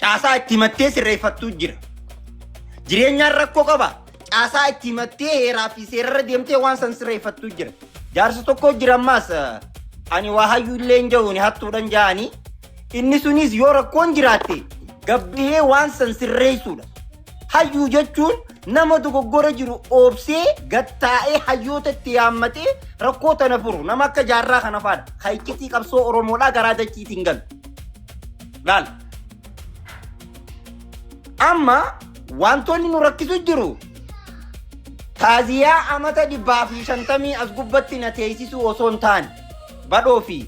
Caasaa itti himattee sirreeffattuu jira. Jireenyaan rakkoo qaba. Caasaa itti himattee heeraa fi seerarra deemtee waan san sirreeffattuu jira. Jaarsa tokko jira ammaas eh, ani waa hayyuu illee hin jahuuni hattuudhan ja'anii inni sunis yoo rakkoon jiraatte gabbihee waan san sirreessuudha. Hayyuu jechuun nama dogoggora jiru oobsee gattaa'ee hayyoota itti yaammatee rakkoo tana furu nama akka jaarraa kana faadha. Kan iccitii qabsoo Oromoodhaa garaa dachiitiin galu. Laal. Amma wantoonni nu rakkisu jiru taaziyaa amata dhibbaa fi shantamii as gubbatti na teessisuu osoo hin taane badhoo fi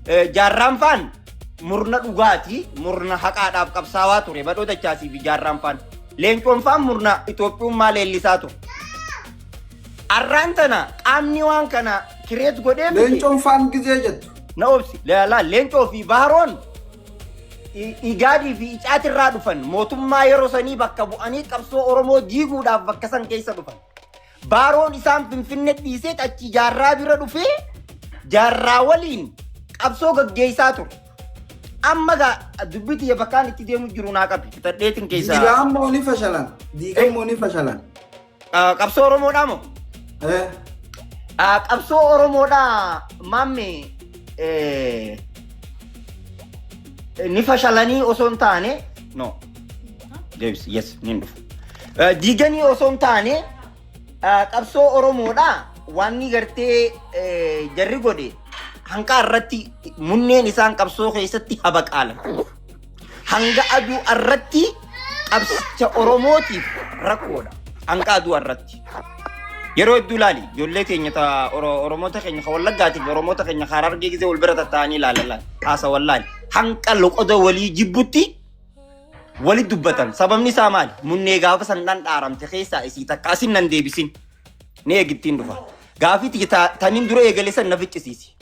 eh, jaarraan faan murna dhugaati, murna haqaadhaaf qabsaawaa ture badhoo dachaasii fi jaarraan faan. Leencoon faan murna Itoophiyummaa leellisaa ture. Arraan tana qaamni waan kana kireet godhee miti. Leencoon faan gizee jettu. Na obsi, laalaa leencoo fi baaroon i- igaadii fi icaatirraa dhufan mootummaa yeroo sanii bakka bu'anii qabsoo Oromoo diiguudhaaf bakka san keessa dhufan. Baaroon isaan Finfinne dhiiseet achi jaarraa bira dhufee jaarraa waliin qabsoo gaggeessaa ture. Amma gaa dubbii tiyya bakkaan itti deemu jiru naa qabi. Tadheetin keessaa Diigaan moo ni fashalan? Diigaan moo ni fashalan? Ah, qabsoo Oromoodhaa moo? Eh, Ah, qabsoo Oromoodhaa maamme eh, ni fashalanii osoo hin taane no. Deebis, yes, niin dhufu. Eh, Diiganii osoo hin taane eh, qabsoo Oromoodha waanni gartee eh, jarri godhe hanqaa irratti munneen isaan qabsoo keessatti habaqaalan. Hanga aduu irratti qabsicha Oromootiif rakkoodha. Hanga aduu irratti. Yeroo hedduu ilaali ijoollee keenya ta Oro- Oromoota keenya kan Wallaggaatiif Oromoota keenya kan Harargee gisee wal bira tattaa'anii ilaalan haasa wallaali. Hanqa loqoda walii jibbutti Walit dubbatan sababni isaa maali? Munnee gaafa san dhan dhaaramte keessaa isii takka asin nan deebisin. Ni eegittiin dhufa. Gaafii tiyya ta- taniin dura eegale san na ficcisiisi.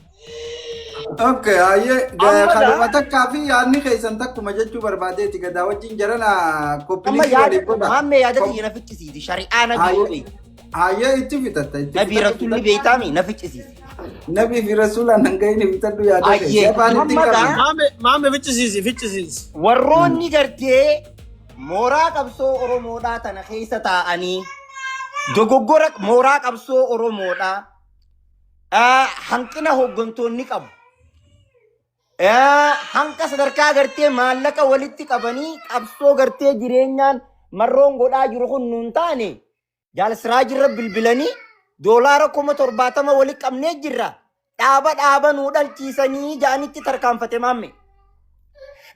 Okay, ayyee Amma gaa- kanuma gaa- takkaa fi yaadni keessan takkuma jechuu barbaadeeti gadaa wajjin jarana Amma koppilisii yaada waliif godha. maammee yaada Kop- tiyya na ficcisiisi. Shari'aa na Ayyee. biyyoo beeku. Ayyee itti fixatta itti Nabii fixatta. rasuulli beeytaami na ficcisiise. Nabii fi rasuulaan hanga inni fixadhu yaada Ayyee, ta'e. Afaan itti Muhammad qabna. haa- Maame maame ficcisiisi ficcisiisi. Warroonni gartee mooraa qabsoo Oromoodhaa tana keessa taa'anii dogoggora mooraa qabsoo Oromoodhaa ah, hanqina hooggantoonni qabu. Ah, Hanqa sadarkaa gartee maallaqa walitti qabanii qabsoo gartee jireenyaan marroon godhaa jiru kun nuun taane Jaal Siraajirra bilbilanii doolaara kuma 70 wali qabnee jirra dhaaba dhaaba nuu dhalchiisanii ja'anitti tarkaanfate maamme.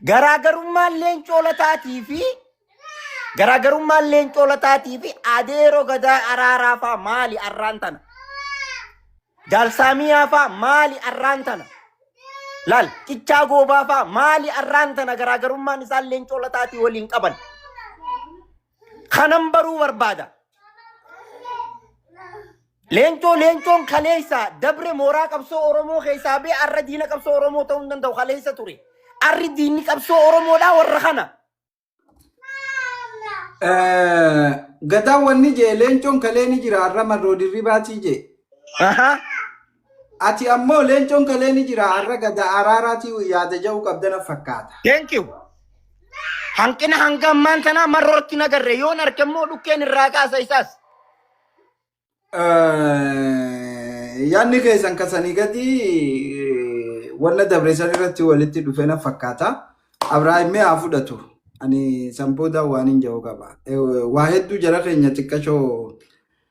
Garaagarummaan leencoo lataatii fi garaagarummaan leencoo lataatii fi adeeroo gadaa araaraa faa maali arraan tana? Jaal Saamiyaa faa maali arraan tana? Laal qichaa goobaa faa maali arraan tana garaagarummaan isaan leencoo lataatii waliin qaban? Kanan baruu barbaada. Leencoo leencoon kaleessa dabre mooraa qabsoo Oromoo keessaa bee arra diina qabsoo Oromoo ta'uu hin danda'u kaleessa ture. Arri diinni qabsoo Oromoodhaa warra kana. Eh, Gadaa wanni jee leencoon kalee ni jira arra marroo dirribaatii jee. Ahaa. Ati ammoo leencoon kalee ni jira arra gada araaraa tiyu yaada ja'uu qabda na fakkaata. Thank you. Hanqina hanga ammaan tanaa marrootti nagarre yoon arke immoo dhukkeen irraa kaasa isaas. Eh, Yaadni keessan kasanii gadi eh, wanna dabreessan irratti walitti dhufe na fakkaata. Abrahaam mee haa fudhatu. Ani san booda waan hin ja'u qaba. Eh, Waa hedduu jara keenya xiqqashoo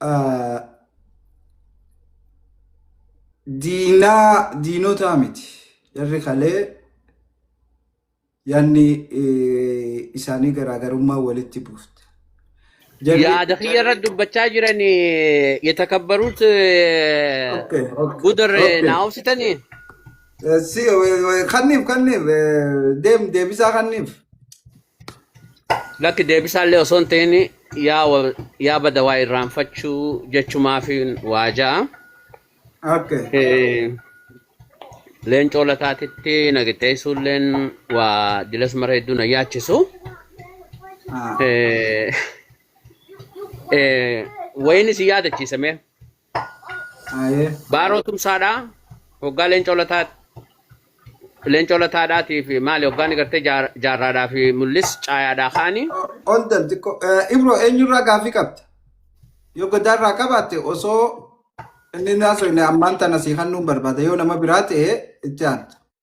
Ah, diinaa diinotaa miti jarri kalee yaanni eh, isaanii garaagarummaa walitti buufte jarri yaada kiyya irratti dubbachaa jiran yetakabbaruut okay okay gudar okay naa obsitanii Eh, si eh, eh, kanniif kanniif eh, deem deebisaa kanniif Lakki deebisaallee osoo hin ta'in yaa wal- yaa bada waa irraanfachuu jechumaafin waa ja'a. Okay. Eh, Leencoo lataatitti nagiteessuulleen waa dilas mara hedduu na yaachisu. Ah. Eh, eh, Wayiin isin yaadachiisame. Aye. Baaroo tumsaadhaa hoggaa leencoo lataa leencoo lataadhaatii fi maali hoggaa ni gartee jaar- jaarraadhaa fi mul'is caayaadhaa kaanii Hold on xiqqoo. Eh, Ibro eenyurraa gaaffii qabda? Yoo godaarraa qabaatte osoo inni naasoo inni ammaan tana sii hannuun barbaada yoo nama biraa ta'e itti aanta.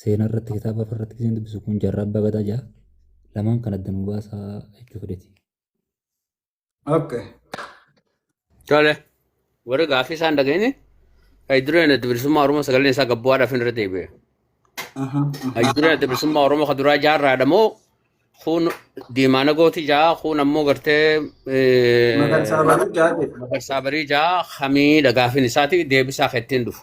seenaa irratti kitaaba irratti isin dubbisu kun jarraa abbaa gadaa ja'a lamaan kan adda nu baasaa jechuu fedheti. Okay. Tole. Warri gaaffii isaan dhageenye haydureen adda bilisummaa Oromoo sagaleen isaa gabbu'aadhaaf hin irra deebi'e. Aha, aha. Haydureen adda bilisummaa Oromoo kan duraa jaarraadha moo kuun diimaana gooti ja'a kuun ammoo gartee eh, Magarsaa baruu jaadhe. magarsaa barii ja'a hamiidha gaaffiin isaati deebisaa kan ittiin dhufu.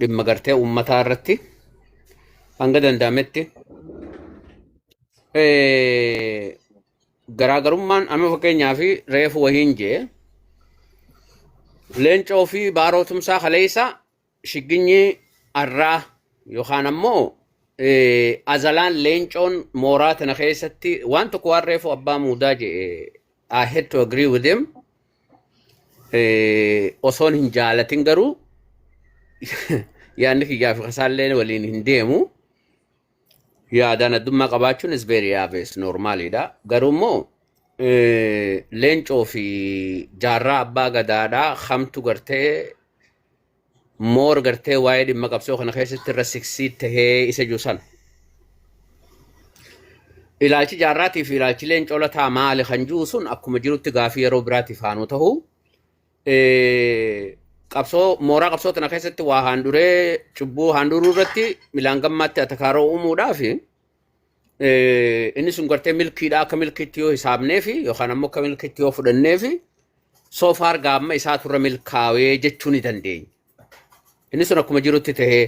dhimma gartee uummataa irratti hanga danda'ametti eh, garaagarummaan amma fakkeenyaa fi reefu wahiin jee leencoo fi baaroo tumsaa kaleessa shigginyi arraa yookaan ammoo eh, azalaan leencoon mooraa tana keessatti waan tokko waan reefu abbaa muudaa jee I had to agree with him. Eh, osoon hin jaalatin garuu yaadni kiyyaa fi kasaallee waliin hin deemu yaadaan addummaa qabaachuun is very obvious normaaliidha garuu immoo eh, leencoo fi jaarraa abbaa gadaadhaa kamtu gartee moor gartee waa'ee dhimma qabsoo kana keessatti irra siksii tahee isa jiru sana. Ilaalchi jaarraatii fi ilaalchi leencoo lataa maali kan jiru sun akkuma jirutti gaafii yeroo biraatiif haanuu ta'u. Qabsoo mooraa qabsoo tana keessatti waa haanduree cubbuu haanduruu irratti milaan gammaatti atakaaroo uumuudhaa fi eh, inni sun gartee milkiidha akka milkiitti yoo hisaabneefi yookaan ammoo akka milkiitti yoo fudhanneefi soo faar gaamma isaa turre milkaawee jechuu ni dandeenya. Inni sun akkuma jirutti tahee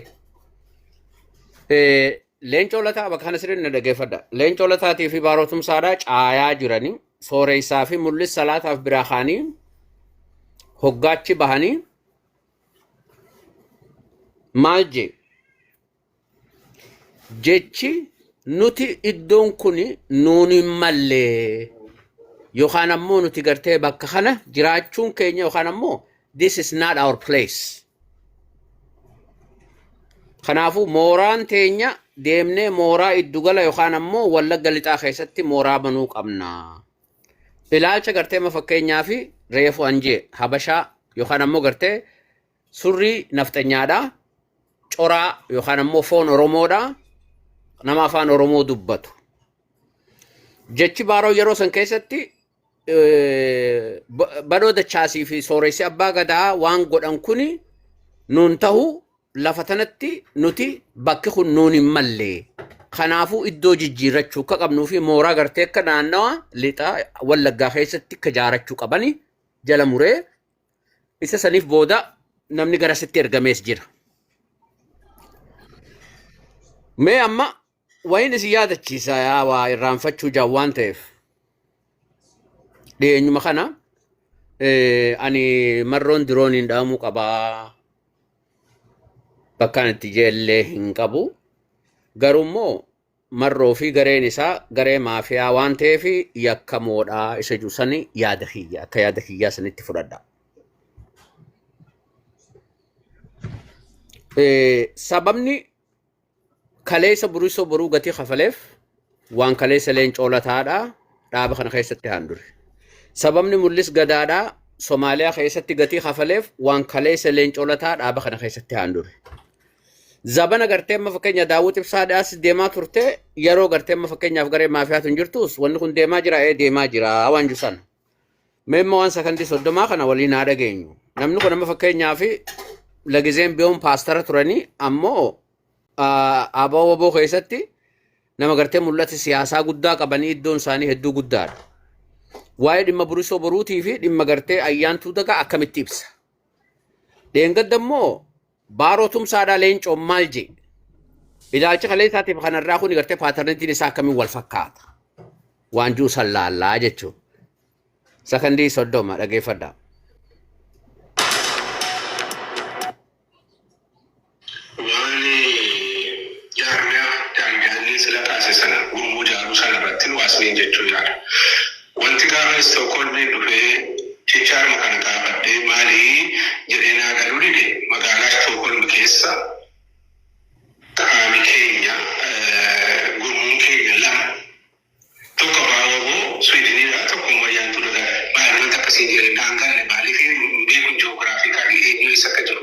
Eh, leencoo lataa bakka kana sirriin na dhageeffadha. Leencoo lataatii fi baarootumsaadhaa caayaa jiranii sooreessaa fi mul'is salaataaf biraa kaanii hoggaachi bahanii maal jee jechi nuti iddoon kun nuun hin malle yookaan ammoo nuti gartee bakka kana jiraachuun keenya yookaan ammoo this is not our place. Kanaafuu mooraan teenya deemnee mooraa iddugala yookaan ammoo wallagga lixaa keessatti mooraa banuu qabna. Ilaalcha gartee ma fakkeenyaa fi reefu anjee habashaa yookaan ammoo gartee Surrii nafxanyaadha. Coraa yookaan ammoo foon Oromoodha. Nama afaan Oromoo dubbatu. Jechi baaroo yeroo san keessatti eh, ba- badoo dachaasii fi sooressi abbaa gadaa waan godhan kuni nuun tahu lafa tanatti nuti bakki kun nuun hin malle. Kanaafuu iddoo jijjiirrachuu akka qabnuu fi mooraa gartee akka naannawa lixaa wallaggaa keessatti akka jaarachuu qabani jala muree Isa saniif booda namni gara sitti ergamees jira. Mee amma wayin isin yaadachiisa yaa waa irraanfachuu jaan waan ta'eef. Dhiyeenyuma kana eh, ani marroon dirooniin dhaamuu qabaa. Bakkaan itti jeellee hin qabu. Garuu immoo Marroo fi gareen isaa garee maafiyaa waan ta'eef yakkamoodha isa jedhu sani yaada kiyya akka yaada kiyyaa sanitti fudhadha. Eh, Sababni kaleessa burisoo boruu gatii kafaleef waan kaleessa leen coolataadha dhaaba kana keessatti haandure. Sababni mul'is gadaadha Somaaliyaa keessatti gatii kafaleef waan kaleessa leen coolataa dhaaba kana keessatti haandure. Zabana gartee amma fakkeenya daawwiti ibsaa dhiyaas deemaa turte yeroo gartee amma fakkeenyaaf garee maafiyaatu hin jirtus wanni kun deemaa jira ee deemaa jira waan jiru sana. Mee immoo waan sakandii soddomaa kana waliin haa dhageenyu. Namni kun amma fakkeenyaaf lagizeen biyoon paastara turanii ammoo abaa waboo keessatti nama gartee mul'ata siyaasaa guddaa qabanii iddoon isaanii hedduu guddaadha. Waa'ee dhimma burisoo boruutii fi dhimma gartee ayyaantuu dagaa akkamitti ibsa? Dheengadda immoo Baaroo Tumsaadhaa Leencoon maal jee? Ilaalcha kaleessaatiif kanarraa kun gartee paatarnitiin isaa akkamiin wal fakkaata? Waan jiru san laallaa jechuudha. Sakandii soddoma dhageeffadhaa. waan jaarmiyaa daangaalee sila taase sana gurmuu jaaruu sana irratti nu asmiin jechuu yaada. Wanti gaafa Istookholmiin dhufee jechaadhuma kana gaafadhee maali jedhee naa galuu dide magaalaa Istookholm keessa qaami keenya gurmuun keenya lama tokko abbaa wbo Swiidiniidha tokko immoo Ayyaantuu Dagaafi baay'inaan takka siin jedhee naan galle maaliif hin beekun ji'oogiraafiikaalii eenyu eessa akka jiru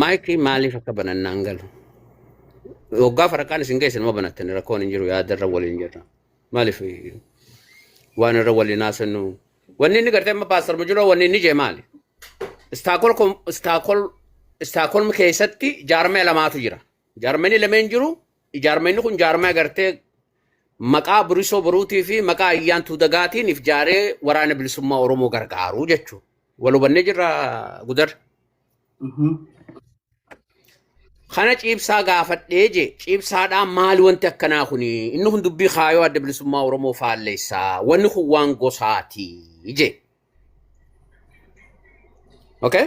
Maayikii maaliif akka banannaan galu. Waggaa faraqaan isin geesse nama banattan rakkoon hin jiru yaada irra waliin jirra. Maaliif waan irra waliin haasannu. Wanni inni gartee amma paastar Mujuloo wanni inni jee maali? Istaakol kom- istaakol istaakol keessatti jaarmee lamaatu jira. Jaarmanii lameen jiru Ijaarmeenni kun jaarmaya gartee maqaa Burisoo Boruutii fi maqaa Ayyaantuu Dagaatiin if jaaree waraana bilisummaa Oromoo gargaaru jechuudha. Wal hubannee jirra gudar. Kana ciibsaa gaafadhee jee ciibsaadhaan maali wanti akkanaa kuni inni kun dubbii kaayoo adda bilisummaa Oromoo faalleessaa wanni kun waan gosaati jee. Okay?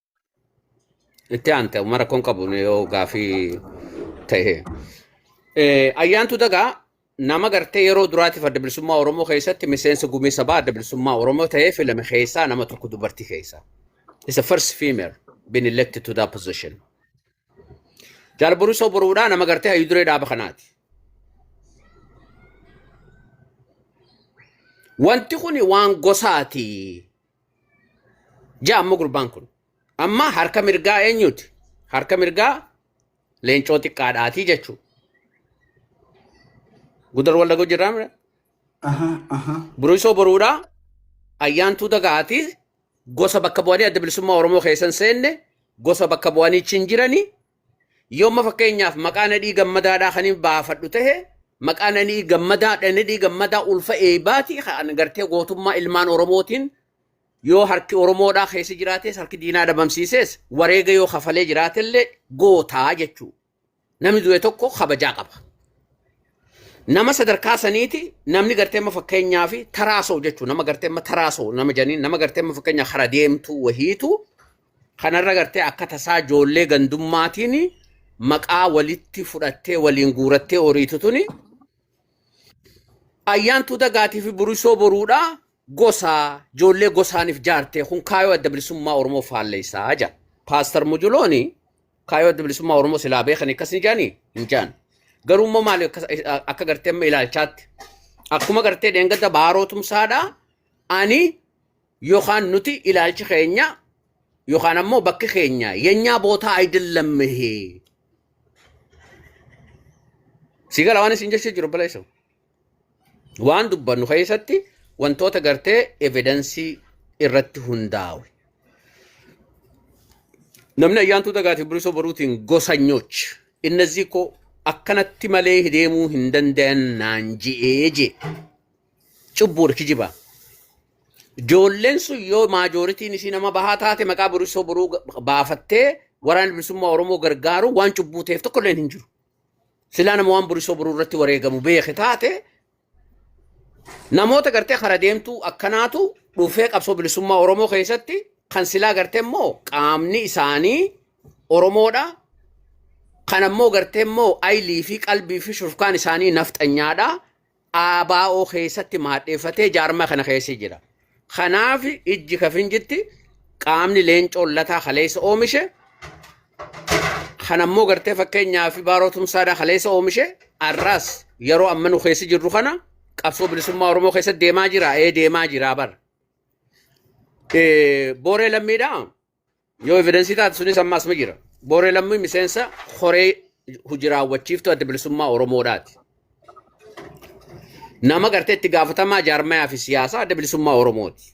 Itti aante amma rakkoon qabu yoo gaafii ta'e. Eh, Ayyaantu dagaa nama gartee yeroo duraatiif adda bilisummaa Oromoo keessatti miseensa gumii sabaa adda bilisummaa Oromoo ta'ee filame keessaa nama tokko dubartii keessaa. It's the first female been elected to that position. Jaal Borisoo Boruudhaa nama gartee hayyuu duree dhaaba kanaati. Wanti kun waan gosaati. Ja'a amma gurbaan kun. Amma harka mirgaa eenyuuti? Harka mirgaa leencoo xiqqaadhaatii jechuu. Gudar wallagoo jirraa mira? Aha, aha. Burisoo boruudhaa ayyaantuu dagaatii gosa bakka bu'anii adda bilisummaa Oromoo keessan seenne gosa bakka bu'anii chin jiranii Yooma fakkeenyaaf maqaa nadhii gammadaadhaa kan hin baafadhu ta'e maqaa nadhii gammadaa nadhii gammadaa ulfa eebaati kan gartee gootummaa ilmaan Oromootiin yoo harki Oromoodhaa keessa jiraates harki diinaa dhabamsiises wareega yoo kafalee jiraatellee gootaa jechuu. Namni du'e tokko kabajaa qaba. Nama sadarkaa saniiti namni gartee amma fakkeenyaa fi taraasoo jechuun nama gartee amma taraasoo nama janiin nama gartee amma fakkeenyaa kara deemtuu wahiitu Kanarra gartee akka tasaa ijoollee gandummaatiin maqaa walitti fudhattee waliin guurattee horiitu tuni ayyaantuu dagaatii fi burisoo boruudha gosaa ijoollee gosaaniif jaartee kun kaayoo adda bilisummaa Oromoo faalleessaa jira. Paastar Mujulooni kaayoo adda bilisummaa Oromoo silaa beekan akkas hin jaanii hin jaan. Garuu immoo maali akkas- akka gartee amma ilaalchaatti akkuma gartee dheengadda baaroo tumsaadha ani Yookaan nuti ilaalchi keenya yookaan ammoo bakki keenya yenyaa bootaa ayidallammehee. Si gala waan isin jechuu jiru baleessa. Waan dubbannu keessatti wantoota gartee evidensii irratti hundaawe. Namni ayyaantuu dagaatiif bilisoo baruutiin gosanyoch innazii koo akkanatti malee deemuu hin danda'an naan je'ee jee. Cubbuudha kijibaa. Ijoolleen sun yoo maajooritiin isii nama bahaa taate maqaa burisoo boruu ga- baafattee waraana bilisummaa Oromoo gargaaru waan cubbuu ta'eef tokko illee hin jiru. Silaa nama waan burisoo boruu irratti wareegamu beeke taate namoota gartee kara deemtuu akkanaatu dhufee qabsoo bilisummaa Oromoo keessatti kan silaa gartee immoo qaamni isaanii Oromoodha. Kan ammoo gartee immoo aylii fi qalbii fi shurkaan isaanii nafxanyaadha. ABO keessatti maadheeffatee jaarmaa kana keessa jira. Kanaaf ijji kafin jitti qaamni leencoon lataa kaleessa oomishe kan ammoo gartee fakkeenyaa fi baaroo tumsaadhaa kaleessa oomishe arraas yeroo amma nu keessa jirru kana qabsoo bilisummaa Oromoo keessa deemaa jira ee deemaa jira bara. Eh, Booree lammiidhaa Yoo evidensii taate sunis ammaas ma jira. Booree lammii miseensa koree hojii raawwachiiftuu adda bilisummaa Oromoodhaati. Nama gartee itti gaafatamaa jaarmayaa fi siyaasaa adda bilisummaa Oromooti.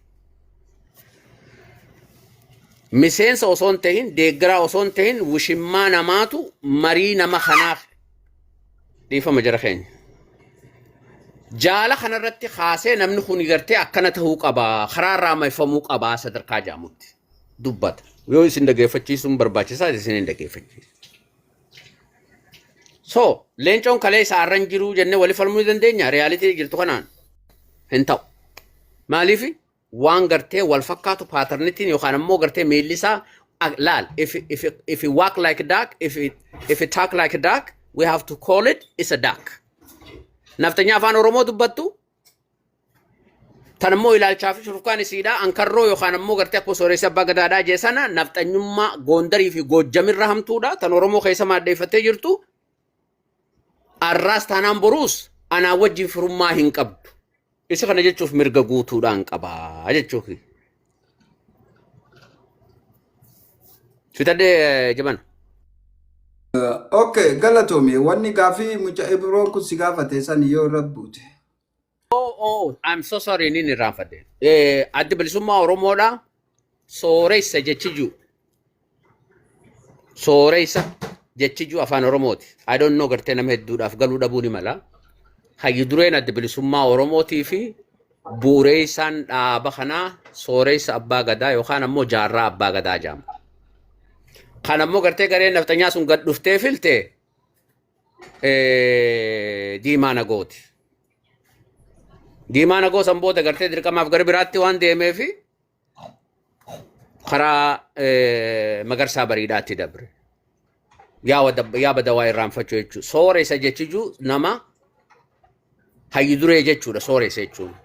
Miseensa osoo hin tahin deeggaraa osoo hin tahin wushimmaa namaatu marii nama kanaa dhiifama jara keenya. Jaala kanarratti kaasee namni kun gartee akkana ta'uu qaba karaa irraa maifamuu qaba sadarkaa jaamutti dubbata. Yoo isin dhageeffachiisuun barbaachisaa isin hin dhageeffachiisu. So leencoon kalee isaa irra hin jiruu jennee wali falmuu ni dandeenya riyaalitii jirtu kanaan hin ta'u. Maaliifi? waan gartee wal fakkaatu paatarnitiin yookaan ammoo gartee miilli isaa ak- laal if if if it walk like a duck if it if it talk like a duck we have to call it is a duck naftanyaa afaan oromoo dubbattu tan ammoo ilaalchaa fi shurkaan isiidhaa ankarroo yookaan ammoo gartee akkuma sooressi abbaa gadaadhaa jee sana nafxanyummaa goondarii fi goojjamirra hamtuudha tan oromoo keessa maaddeeffattee jirtu Arraas taanaan boruus anaa wajjin firummaa hin qabdu. Isa kana jechuuf mirga guutuudhaan qabaa jechuu kiyya. Fitadhee jabana. Okay, galatoomi. Wanni gaafii mucaa Ibroon kun si gaafate san yoo irra buute. Oh, oh, I'm so sorry inni irraa fadde. Eh, addi bilisummaa Oromoodha. Sooressa jechiju. Sooressa jechiju afaan Oromooti. I don't know gartee nama hedduudhaaf galuu dhabuu ni mala. Hayyu dureen addi bilisummaa Oromootii fi bu'uureessaan dhaaba kanaa sooressa abbaa gadaa yookaan ammoo jaarraa abbaa gadaa jedhama. Kan ammoo gartee gareen nafxanyaa sun gad dhuftee filte eh, diimaa nagooti. Diimaa nagoo san booda gartee dirqamaaf gara biraatti waan deemee fi karaa eh, magarsaa bariidhaatti dabre. Yaa wada- yaa badawaa irraanfachuu jechuudha. Sooressa jechuu nama hayyu duree jechuudha sooressa jechuun.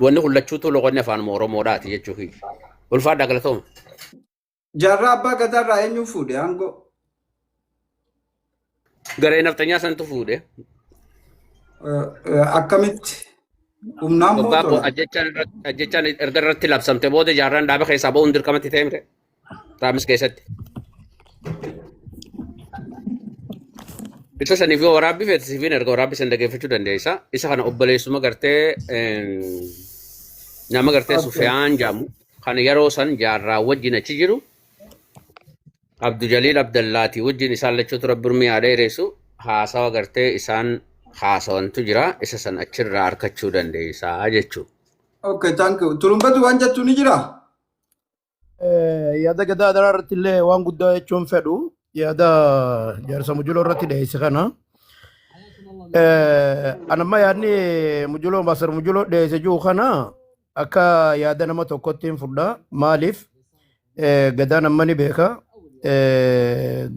Wanni kullachuutu loqonni afaan Oromoodhaati jechuu kiyya. Ulfaadhaa galatooma. Jaarraa abbaa gadaa irraa eenyuun fuudhe aangoo? Garee nafxanyaa santu fuudhe. Eh, eh, Akkamitti? Humnaan moo Waggaa koo tolaan? ajjechaan irratti- ajjechaan erga irratti labsamte booda jaarraan dhaaba keessaa ba'uun dirqamatti ta'e mire. Raamis keessatti. Isa saniif yoo waraabbii feete siifin erga waraabbii san dhageeffachuu dandeessa. Isa kana obboleessuma gartee em, nama gartee Okay. Sufiyaan jaamu. kan yeroo san jaarraa wajjin achi jiru Abdu Jaliil Abdallaati wajjin isaan lachuutu rabbi urmii haa dheeressu haasawa gartee isaan haasawantu jira isa san achirraa arkachuu dandeessaa jechuu. Okay, thank you. Turumbatu waan jettu ni jira? Eh, yaada gadaa adaraa irratti illee waan guddaa jechuun fedhu yaada jaarsa mujuloo irratti dhiyeesse kana Eh, anamma yaadni mujuloo maasar mujuloo dhiyeesse jiru kana Akka yaada nama tokkotti hin fudha. Maaliif gadaan amma ni beeka.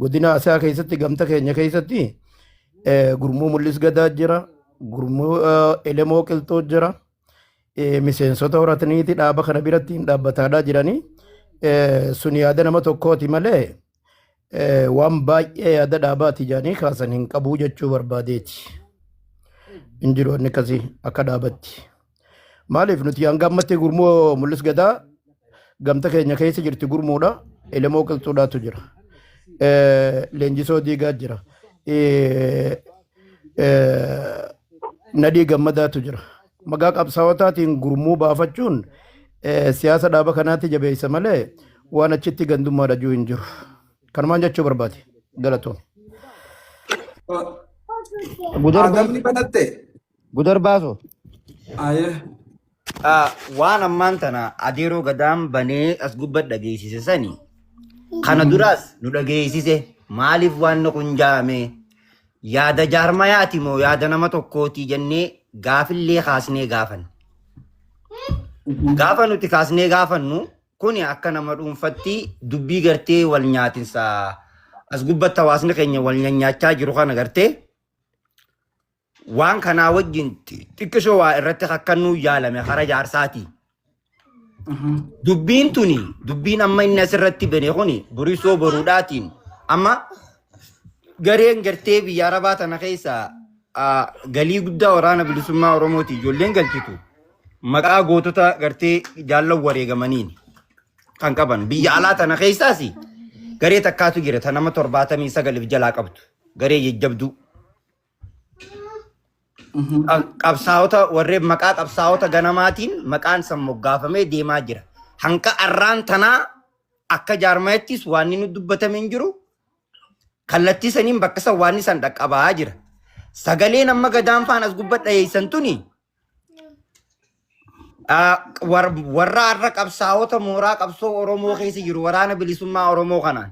Godina Asaa keessatti gamta keenya keessatti gurmuu mul'is gadaa jira. Gurmuu elemoo qilxoo jira. Miseensota horataniiti dhaaba kana biratti hin dhaabbataadhaa jiranii. Sun yaada nama tokkooti malee waan baay'ee yaada dhaabaati jedhanii kaasan hin qabuu jechuu barbaadeeti. Hin jiru wanni akkasii akka dhaabatti. Maaliif nuti hanga ammatti gurmuu mul'is gadaa gamta keenya keessa jirti gurmuudha. Elemoo qilxuudhaatu jira. Leenjisoo diigaa jira. Nadhii gammadaatu jira. Maqaa qabsaawotaatiin gurmuu baafachuun siyaasa dhaaba kanaatti jabeessa malee waan achitti gandummaa dhajuu hin jiru. Kanumaan jechuu barbaade. Galatoon. Gudar Aadamni banatte. Gudar baaso. Ayee. Ah, waan ammaan tana adeeroo gadaan banee as gubba dhageessise sani kana duraas nu dhageessise maaliif waan na kun jaame Yaada jaarmayaati moo yaada nama tokkooti jennee gaafillee kaasnee gaafanne. Gaafa nuti kaasnee gaafannu kuni akka nama dhuunfatti dubbii gartee wal nyaatinsa as gubbatti hawaasni keenya wal nyaachaa jiru kana gartee waan kanaa wajjin xiqqisoo waa irratti kakkannuu yaalame hara jaarsaati. Dubbiin tuni dubbiin amma inni asirratti bane kuni burisoo boruudhaatiin amma gareen gartee biyya arabaa tana keessa ah, galii guddaa waraana bilisummaa oromooti ijoolleen galchitu maqaa gootota gartee jaallan wareegamaniin kan qaban biyya alaa tana keessaas garee takkaatu jira ta nama torbaatamii sagaliif jalaa qabdu garee jajjabduu qabsaa'ota warreen maqaa qabsaa'ota ganamaatiin maqaan san moggaafamee deemaa jira. Hanqa arraan tanaa akka jaarmayattis waan nu dubbatame hin jiru. Kallattii saniin bakka san waan san dhaqqabaa jira. Sagaleen amma gadaan faan as gubbaa dhayeessan tuni warra har'a qabsaa'ota mooraa qabsoo Oromoo keessa jiru waraana bilisummaa Oromoo kanaan.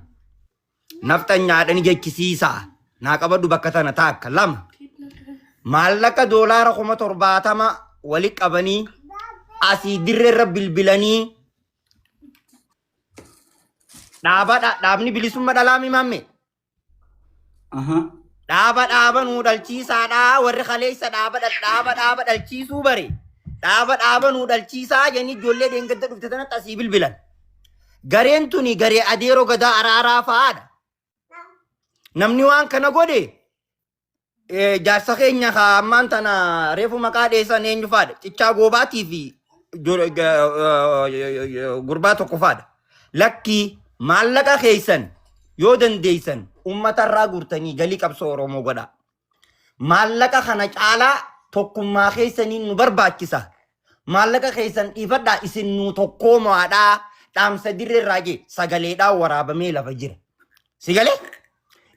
Nafxanyaadhani jechisiisaa naa qabadhu bakka tana taakka lama maallaqa doolaara kuma torbaatama wali qabanii asii dirreerra bilbilanii dhaabadha dhaabni bilisumma dhalaami maamme Aha. dhaaba dhaaba nuu dhalchiisaadha warri kaleessa dhaaba dhal- dhaaba dhaaba dhalchiisuu bare dhaaba dhaaba nuu dhalchiisaa jenni ijoollee deengadda dhufte tanatti asii bilbilan Gareen tuni garee adeeroo gadaa araaraa fa'aadha. Namni waan kana godhe eh, jaarsa keenya ka ammaan tana reefu maqaa dheessan eenyu fa'aadha. Cichaa goobaatii fi jor- ga- eh, gurbaa tokko fa'aadha. Lakkii maallaqa keessan yoo dandeessan uummatarraa guurtanii galii qabsoo Oromoo godhaa. Maallaqa kana caalaa tokkummaa keessaniin nu barbaachisa. Maallaqa keessan dhiifadhaa isin nuu tokkoomaadhaa dhaamsa dirreerraa jee sagaleedhaan waraabamee lafa jira. Si galee?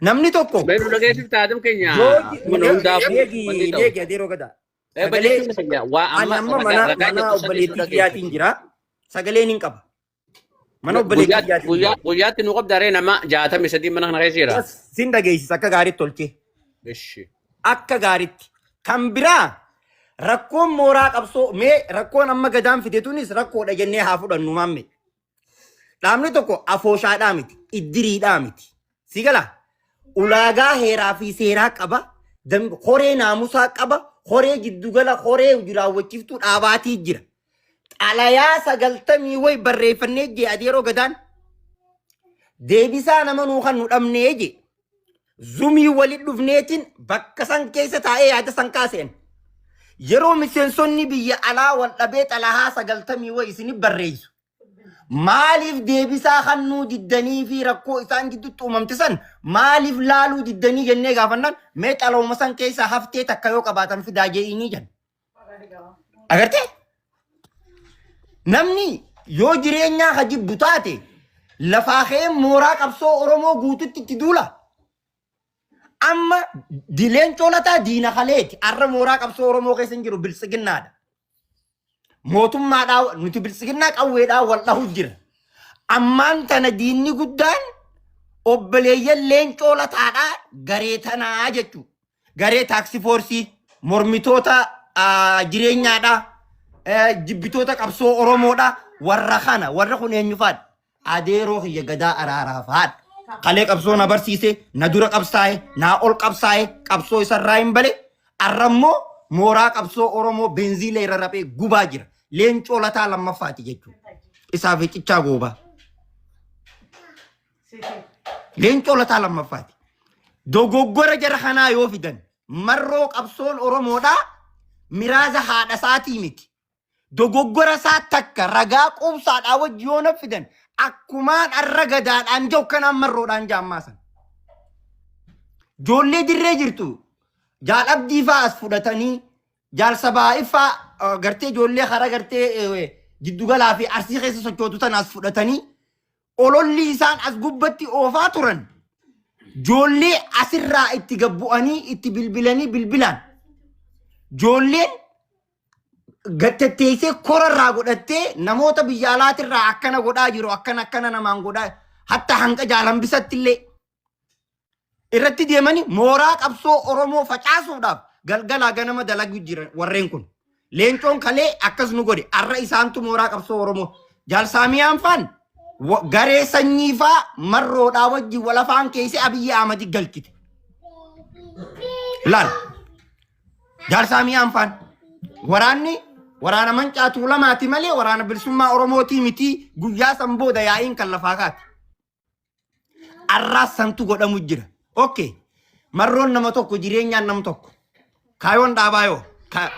Namni tokko Mee nu dhageessifta Adam keenya yoo mana hundaaf wanti deegi ta'u. deegi adeeroo gadaa. Eh, Sagalee balleessuun keenya waa ani amma amma mana ragaa mana jirtu saniif nu obboleettii kiyyaatiin dhageessifti. jira. Sagaleen hin qaba. Mana obboleetti Guyyaatti kiyyaatiin guyyaa jira. guyyaatti nu qabda ree nama jaatamii sadii mana kana keessa jira. Yes, Sin dhageessisa akka gaariitti tolchee. Ishi. Akka gaariitti. Kan biraa rakkoon mooraa qabsoo mee rakkoon amma gadaan fide tunis rakkoodha jennee haa fudhannu maamme. Dhaabni tokko afooshaadhaa miti, iddiriidhaa miti. Si gala ulaagaa heeraa fi seeraa qaba. dam- Horee naamusaa qaba. Horee giddugala horee hojii raawwachiiftuu dhaabaatii jira. Xalayaa sagaltamii wayi barreeffannee jee adeeroo gadaan deebisaa nama nuu kan nu dhabnee jee. Zumii walitti dhufneetiin bakka san keessa taa'ee yaada san kaaseen. Yeroo miseensonni biyya alaa wal dhabee xalayaa sagaltamii wayi isinif barreessu. Maaliif deebisaa kannuu diddanii fi rakkoo isaan gidduutti uumamte san maaliif laaluu diddanii jennee gaafannaan mee xalooma san keessaa haftee takka yoo qabaatan fidaa je'iinii jenna. Agartee? Namni yoo jireenyaa ka jibbu taate lafaa ka'ee mooraa qabsoo Oromoo guututti itti duula. Amma dileen colataa diina kaleeti. Arra mooraa qabsoo Oromoo keessa hin jiru biltsiginnaadha. Mootummaadhaa nuti biltsiginnaa qawweedhaa wal dhahu jira. Ammaan tana diinni guddaan obboleeyyan leencoo lataadhaa garee tanaa jechuudha. Garee taaksii foorsii mormitoota ah, jireenyaadhaa eh, jibbitoota qabsoo Oromoodhaa warra kana warra kun eenyufaadha. Adeeroo kiyya Gadaa Araaraaf haadha. Kalee qabsoo na barsiise, na dura qabsaa'e, naa ol qabsaa'e, qabsoo isarraa hin bale. Arrammoo mooraa qabsoo Oromoo beenziila irra raphee gubaa jira. Leencoo lataa lammaffaati jechuudha. Isaaf hicichaa goobaa. Leencoo lataa lammaffaati. Dogoggora jara kanaa yoo fidan marroo qabsoon Oromoodhaa miraaza haadha isaatii miti. dogoggora isaa takka ragaa quubsaadhaa wajji yoo na fidan akkumaan arra gadaadhaan jau kanaan marroodhaan jaammaa san. Joollee dirree jirtu jaal abdii faa as fudhatanii jaal sabaa ifaa eh, gartee joollee hara gartee eh, jiddugalaa fi arsii keessa sochootu tana as fudhatanii Ololli isaan as gubbatti oofaa turan joollee asirraa itti gabbu'anii itti bilbilanii bilbilaan joolleen gattatteessee korarraa godhattee namoota biyya alaatirraa akkana godhaa jiru akkana akkana namaan godhaa hatta hanga jaalambisatti illee irratti deemanii mooraa qabsoo Oromoo facaasuudhaaf galgalaa ganama dalagu jiran warreen kun. Leencoon kalee akkas nu godhe arra isaantu mooraa qabsoo Oromoo. Jaalsaamiyaan faan wa- garee sanyii faa marroodhaa wajjin walafaan keessa Abiyyi Ahmadi galchite. Laal. Jaalsaamiyaan faan waraanni waraana mancaatuu lamaati malee waraana bilisummaa Oromootii miti guyyaa san booda yaa'iin kan lafaa kaati. Arraas santu godhamu jira. Okay. Marroon nama tokko jireenyaan nam tokko. Kaayoon dhaabaa yoo. Ka...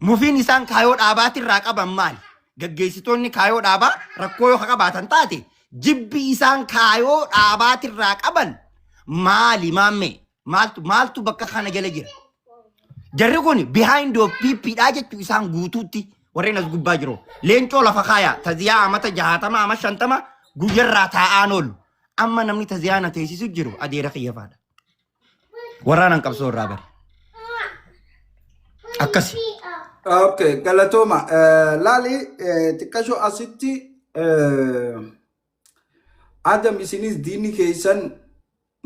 Mufiin isaan kaayoo dhaabaatirraa qaban maali? Gaggeessitoonni kaayoo dhaabaa rakkoo yoo qabaatan taate jibbi isaan kaayoo dhaabaatirraa qaban maali maammee? Maaltu maaltu bakka kana jala jira? Jarri kun behind of PP dhaa jechuu isaan guutuutti warreen as gubbaa jiru. Leencoo lafa kaayaa taziyaa amata jahaatama ama shantama guyyarraa taa'aan oolu. Amma namni taziyaa na teessisu jiru adeera kiyyafaadha. Waraanaan qabsoo irraa bari. Akkasi. Okay, galatooma. Eh, Laali eh, xiqqashoo asitti eh, Agam isinis diinni keessan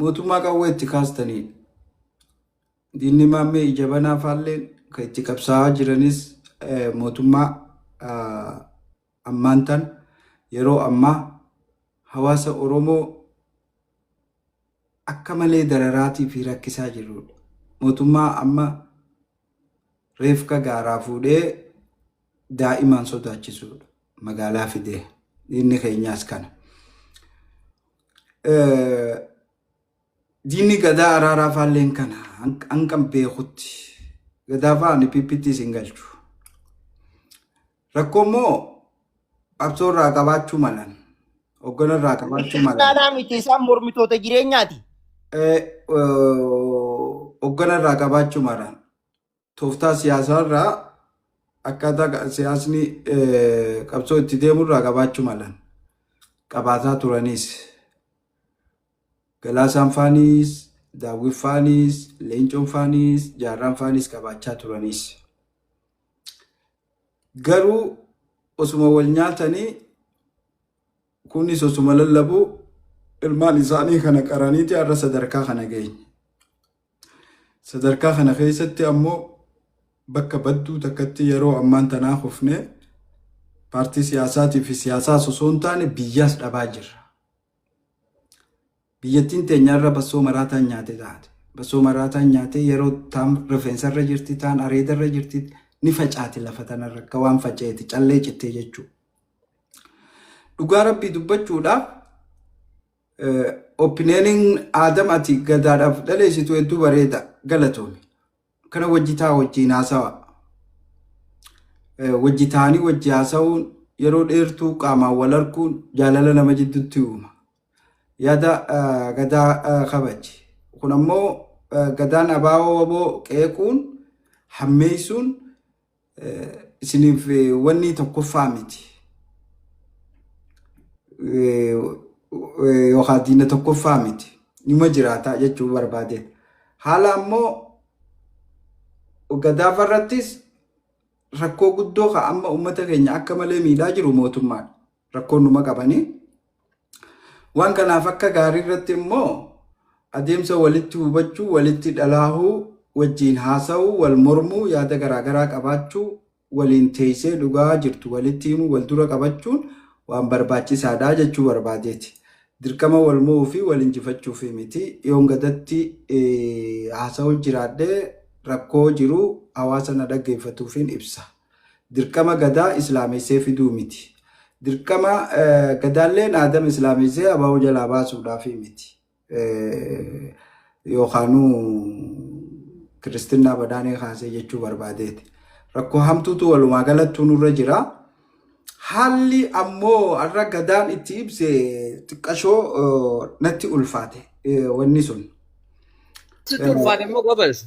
mootummaa qawwee itti kaastanii diinni maammee ija banaa faalleen kan itti qabsaa'aa jiranis eh, mootummaa ah, ammaan tan yeroo ammaa hawaasa Oromoo akka malee dararaatii fi rakkisaa jirruudha. Mootummaa amma reefka gaaraa fuudhee daa'imaan sodaachisuudha. Magaalaa fidee. Diinni keenyaas kana. Diinni gadaa araaraa faalleen kana hanqan beekutti. Gadaafaa ani PPTs hin galchu. Rakkoo immoo qabsoo irraa qabaachuu malan. Hoggana irraa qabaachuu malan. Naanaa miti isaan mormitoota jireenyaati. Eh, oh, Hoggana irraa qabaachuu malan. Tooftaa siyaasaa irraa akkaataa qa- siyaasni eh, qabsoo itti deemu irraa qabaachuu malan. Qabaataa turanis. Galaasaan faanis, daawwin faanis, leencoon faanis, jaarraan faanis qabaachaa turanis. Garuu osuma wal nyaatanii kunis osuma lallabuu ilmaan isaanii kana qaraniiti har'a sadarkaa kana geenye. Sadarkaa kana keessatti ammoo bakka badduu takkatti yeroo ammaan tanaa kufne paartii siyaasaatii fi siyaasaas osoo hin taane biyyaas dhabaa jirra. Biyyattiin teenya arra bassoo maraataan nyaate taate. Bassoo maraataan nyaatee yeroo taan rifeensa irra jirti, taan areeda irra jirti, ni facaati lafa tana irra akka waan faca'eeti callee cittee jechuu. Dhugaa rabbii dubbachuudhaaf opineenin aadam ati gadaadhaaf dhaleessitu hedduu bareeda galatoomi. Kana wajji taa wajjiin haasawa. Wajji taanii wajji haasawuun yeroo dheertuu qaamaan wal arguun jaalala nama jidduutti uuma. Yaada gadaa kabaji. Kun ammoo gadaan abaawoo waboo qeequun hammeessuun isiniif wanni tokkoffaa miti. Yookaan diina tokkoffaa miti. Nima jiraata jechuu barbaade. Haala ammoo gadaaf irrattis rakkoo guddoo kan amma uummata keenya akka malee miidhaa jiru mootummaadha. rakkoon numa qabanii. Waan kanaaf akka gaarii irratti immoo adeemsa walitti hubachuu, walitti dhalaahuu, wajjiin haasa'uu, wal mormuu, yaada garaagaraa qabaachuu, waliin teessee dhugaa jirtu walitti himuu, wal dura qabachuun waan barbaachisaadha jechuu barbaadeeti. Dirqama wal mo'uu fi wal injifachuuf miti. Yoon gadatti haasa'uu jiraadhee rakkoo jiru hawaasa na dhaggeeffatuufin ibsa. Dirqama Gadaa Islaamessee fiduu miti. Dirqama Gadaalleen Aadama Islaamessee ABO jalaa baasuudhaaf miti. Yookaanuu Kiristinnaa Badhaanee kaasee jechuu barbaadeeti. Rakkoo hamtuutu walumaa galattuu nurra jira. Haalli ammoo har'a Gadaan itti ibse xiqqashoo natti ulfaate wanni sun. Sitti ulfaate immoo gobeessa.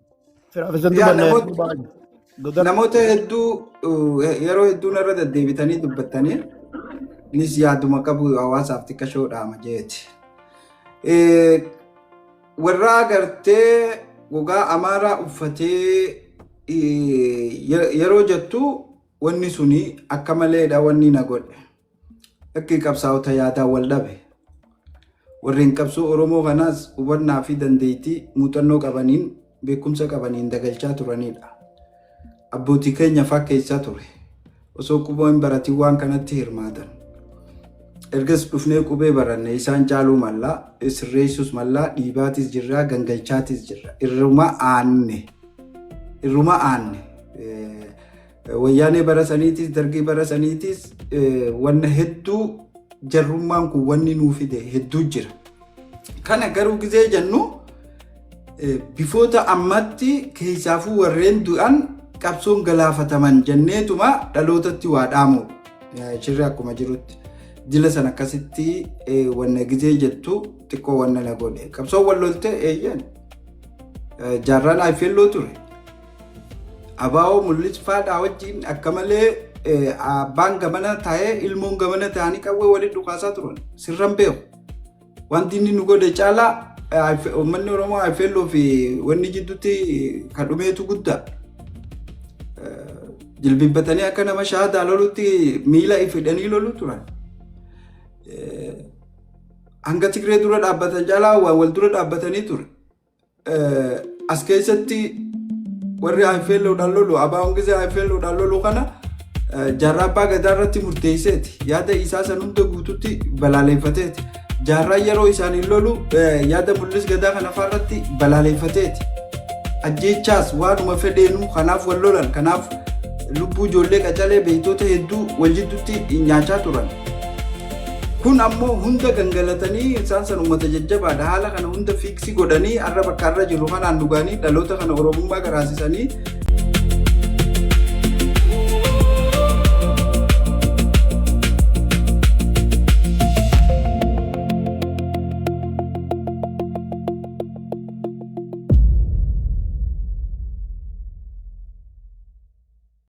Firaafisatti Yaa banna yeroo namoota baay'ee. Dodar. namoota hedduu eh, yeroo hedduu narra deddeebitanii dubbattanii nis yaaduma qabu hawaasaaf xiqqashoo dhaama jeeti. Eh, Warra agartee gogaa amaaraa uffatee eh, ye- yeroo jettu wanni suni akka maleedha wanni na godhe. Akka qabsaa'ota yaadaan wal dhabe. Warreen qabsoo Oromoo kanaas hubannaa fi dandeettii muuxannoo qabaniin beekumsa qabaniin dagalchaa turanidha. Abbootii keenya fakkeessaa ture. Osoo quboo hin baratiin waan kanatti hirmaatan. Ergas dhufnee qubee baranne isaan caaluu mallaa, sirreessuus mallaa, dhiibaatis jirraa, gangalchaatis jirra. Irruma aanne. Irruma aanne. Wayyaanee bara saniitis dargii bara saniitis wanna hedduu jarrummaan kun wanni nuu fide hedduu jira. Kana garuu gizee jennu bifoota ammatti keessaafuu warreen du'an qabsoon galaafataman jenneetuma dhalootatti waa dhaamuudha. Shirri akkuma jirutti jila san akkasitti wanna gizee jettu xiqqoo wanna na godhe. Qabsoon wal lolte eeyyan jaarraan IFLO ture. Abaa'oo mul'is faadhaa wajjin akka malee abbaan gamana taa'ee ilmoon gamana taa'anii qawwee waliin dhukaasaa turan sirran beeku. Wanti inni nu godhe caalaa uummanni Oromoo Ayifeelloo fi wanni jidduutti kan dhumeetu guddaa. Jilbibbatanii akka nama shaadaa lolutti miila ifidhanii lolu turan. Hanga Tigree dura dhaabbatan caalaa waan wal dura dhaabbatanii ture. As keessatti warri IFLOdhaan lolu abaa'oon gisee IFLOdhaan lolu kana jaarraa abbaa gadaa irratti murteesseeti yaada isaa san hunda guututti balaaleeffateeti jaarraa yeroo isaaniin lolu yaada mul'is gadaa kana irratti balaaleeffateeti ajjeechaas waanuma fedheenu kanaaf wal lolan kanaaf lubbuu ijoollee qacalee beektoota hedduu wal jidduutti nyaachaa turan. Kun ammoo hunda gangalatanii isaan san uummata jajjabaadha. Haala kana hunda fiiksi godhanii har'a bakka har'a jirru kanaan nu gahanii dhaloota kana Oromummaa garaasisanii